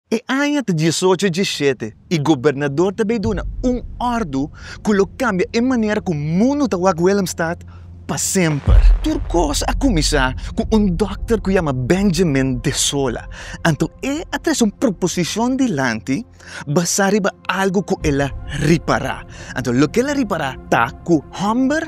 E aña ta diesocho dje shete i gobernador ta bay duna un ordu cu lo cambia e manera cu mundu ta wak Willemstad pa semper. Tur cos a cuminsa cu un dokter cu yama Benjamin de Sola, anto e a trece un proposicion dilanti basa riba algo cu el a ripara. Anto loke el a ripara ta cu homber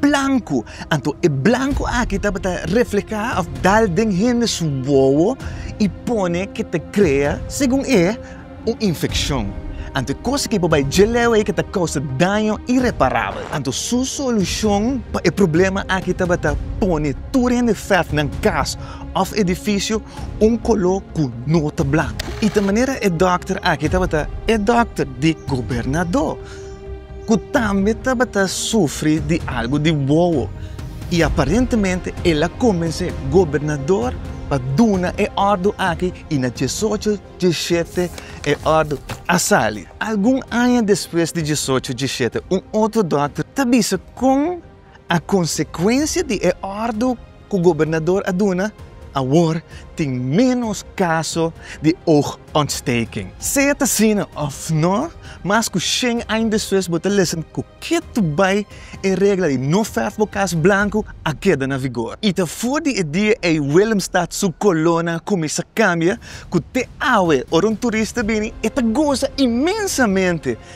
blanku. Anto e blanku aki tabata reflehá òf dal den hende su wowo i pone ke ta krea, segun e, un infekshon. Anto e kos aki por bai dje leu ei ke ta kousa daño ireparabel. Anto su solushon pa e problema aki tabata pone tur hende fèf nan kas òf edifisio un koló ku no ta blanku. I ta manera e dòkter aki tabata e dòkter di gobernadó. ku tambe tabata sufri di algu di wowo i aparentemente el a kombinsé gobernador pa duna e òrdu aki i na diesocho dieshete e òrdu a sali. Algun aña despues di diesocho dieshete un otro dòkter ta bisa kon A konsekuensia di e òrdu ku gobernador a duna, awor tin ménos kaso di oogontsteking. Sea ta asina òf nò, mas ku shen aña despues bo ta lesen ku ke tu bai e regla di no fèrf bo kas blanku a keda na vigor. I ta for di e dia ei Willemstad su kolona kuminsá kambia ku te awe ora un turista bini e ta goza inmensamente